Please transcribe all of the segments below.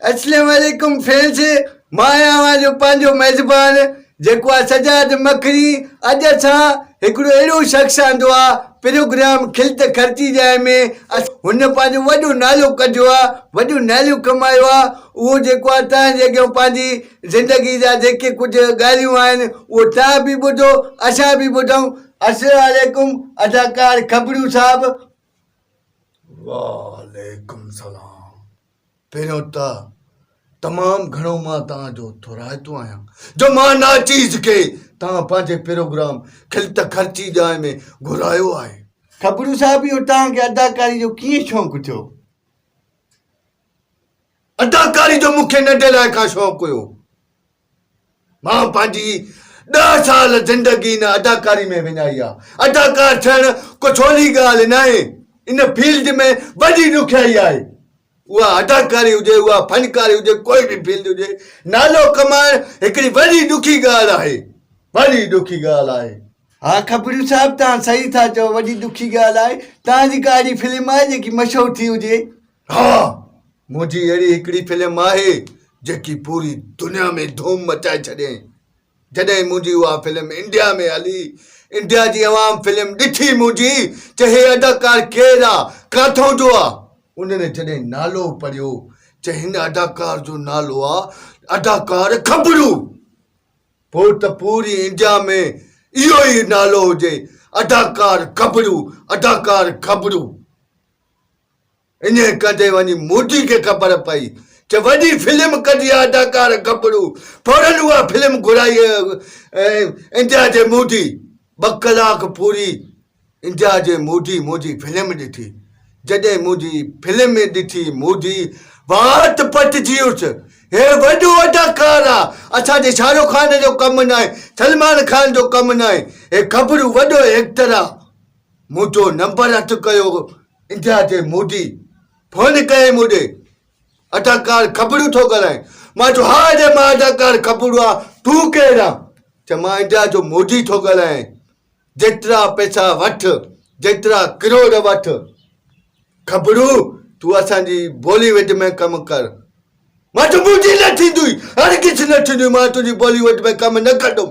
السلام عليڪم فرينس مان آهيان اوهان جو پنهنجو ميزبان جيڪو آهي سجاد مکري اڄ اسان هڪڙو اهڙو شخص آندو آهي پروگرام کلت خرچي جاء ۾ هن پنهنجو وڏو نالو ڪڍيو آهي وڏو نالو ڪمايو آهي اهو جيڪو آهي توهان جي اڳيان پنهنجي زندگي جا جيڪي ڪجهه ڳالهيون آهن اهو توهان به ٻڌو اسان به ٻڌون السلام عليڪم اداڪار کبڙيو صاحب. وعليڪم سلام پهريون ته تمام گهڻو مان توهان جو ٿورائتو آهيان جو مان ناچيز کي توهان پنهنجي پروگرام کلت خرچي ڄائي ۾ گهرايو آهي. کبڙيو صاحب اهو توهان کي اداڪاري جو ڪيئن شونق ٿيو؟ اداڪاري جو مون کي ننڍي لاء کان شوق هيو. مان پنهنجي ڏهه سال زندگي ان اداڪاري ۾ وڃائي آ. اداڪار ٿيڻ ڪو سولي ڳالهه ناهي. ان فيلڊ ۾ وڏي ڏکيائي آهي. اها اداڪاري هجي، اها فنڪاري هجي، ڪوئي به فيلڊ هجي، نالو ڪمائڻ هڪڙي وڏي ڏکي ڳالهه آهي. وڏي ڏکي ڳالهه آهي. ها کپريو صاحب توهان صحيح ٿا چئو وڏي ڏکي ڳالهه آهي. توهان جي ڪا اهڙي فلم آهي جيڪي مشهور ٿي هجي؟ ها منهنجي اهڙي هڪڙي فلم آهي جيڪي پوري دنيا ۾ ڌوم مچائي ڇڏين جڏهن منهنجي اها فلم انڊيا ۾ هلي انڊيا جي عوام فلم ڏٺي منهنجي چي هي اداڪار ڪير آ ڪاٿون جو آ انهن جڏهن نالو پڙهيو چي هن اداڪار جو نالو آ اداڪار کبرو پوء ته پوري انڊيا ۾ اهو ئي نالو هجي اداڪار کبرو اداڪار کبرو. انهيء ڪڍي وڃي موٽي کي خبر پئي ته وڏي فلم ڪڍي اداڪار گبرو فورن اها فلم گهرائي انڊيا جي موٽي ٻه ڪلاڪ پوري انڊيا جي موٽي منهنجي فلم ڏٺي جڏهن منهنجي فلم ڏٺي موٽي وات پٽجي اٿ هي وڏو اداڪار آ اسان جي شاهه رخ خان جو ڪم ناهي سلمان خان جو ڪم ناهي هي گبرو وڏو ايڪٽر آ منهنجو نمبر هٿ ڪيو انڊيا جي مودي فون ڪيائين مون ڏي اداڪار کبڙو ٿو ڳالهائين مان چيو ها اڙي مان اداڪار کبڙو آ تون ڪير آ چي مان انڊيا جو مودي ٿو ڳالهائين جيترا پئسا وٺ جيترا ڪروڙ وٺ کبڙو تون اسان جي بولي وڊ ۾ ڪم ڪر وٽ منهنجي نه ٿيندوئي هرگز نه ٿيندوئي مان تنهنجي بالي ووڊ ۾ ڪم نه ڪندم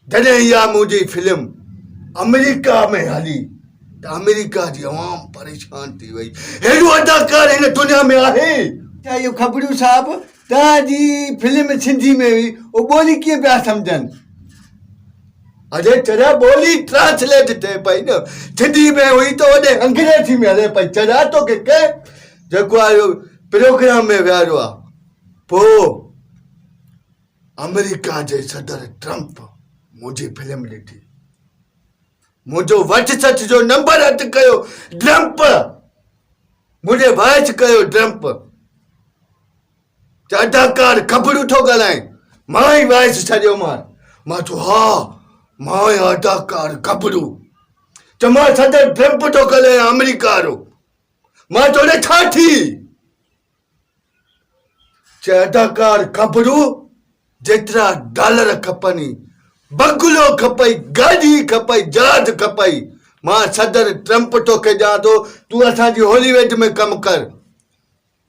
جڏهن اها منهنجي فلم آمريڪا ۾ هلي ته آمريڪا جي عوام پريشان ٿي وئي هيڏو اداڪار هن دنيا ۾ آهي ته اهو کبڙيو صاحب توهان جي فلم سنڌي ۾ هئي اهو ٻولي ڪيئن پيا سمجهن. اڙي چڙيا ٻولي ٽرانسليٽ ٿئي پئي نه سنڌي ۾ هئي ته وڏي انگريزي ۾ هلي پئي چڙيا توکي ڪنهن جيڪو آ اهو پروگرام ۾ ويهاريو آ پو آمريڪا جي صدر ٽرمپ منهنجي فلم ڏٺي منهنجو وٽ سچ جو نمبر اٽ ڪيو ڊرمپ منهنجي وائچ ڪيو ڊرمپ ته اداڪار کبڙو ٿو ڳالهائين مان ئي وائس ڇڏيومان مان چيو ها مان آهيان اداڪار کبڙو ته مان صدر ٽرمپ ٿو ڳالهايان آمريڪا وارو مان توڙي ڇا ٿي چي اداڪار کبڙو جيترا ڊالر کپني بنگلو کپئي گاڏي کپئي جهاز کپئي مان صدر ٽرمپ توکي ڏيان ٿو تون اسان جي هولي ويڊ ۾ ڪم ڪر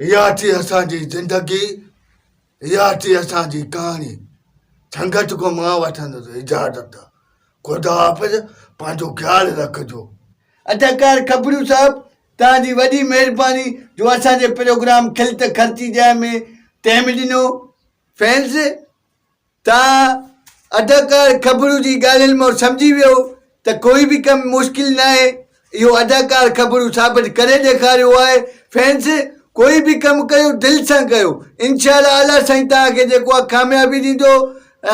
اها ٿي اسان جي زندگي، اها ٿي اسان جي ڪهاڻي. سنگت کان مان وٺندس اجازت. خدا حافظ پنهنجو خيال رکجو. اداڪار کپرو صاحب توهان جي وڏي مهرباني جو اسان جي پروگرام کل ته خرچي جاء ۾ ٽيم ڏنو فينس. ته اداڪار خبرون جي ڳالهين مان سمجهي ويو ته ڪوئي به ڪم مشڪل ناهي اهو اداڪار خبرون ثابت ڪري ڏيکاريو آهي فينس ڪوئي به ڪم ڪيو دل سان ڪيو انشاء الله اعليٰ سائين توهان کي جيڪو آهي ڪاميابي ڏيندو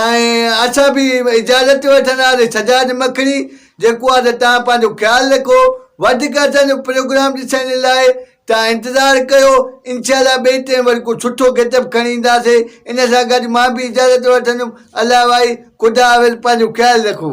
۽ اسان به اجازت وٺنداسي سجاد مکڙي جيڪو آهي ته توهان پنهنجو خيال رکو وڌيڪ اسان جو پروگرام ڏسڻ لاء توهان انتظار ڪيو انشاء الله ٻئي ٽئين وري ڪو سٺو گيٽ اپ کڻي اينداسي ان سان گڏ مان به اجازت وٺندم الله وائي خدا حافظ پنهنجو خيال رکو.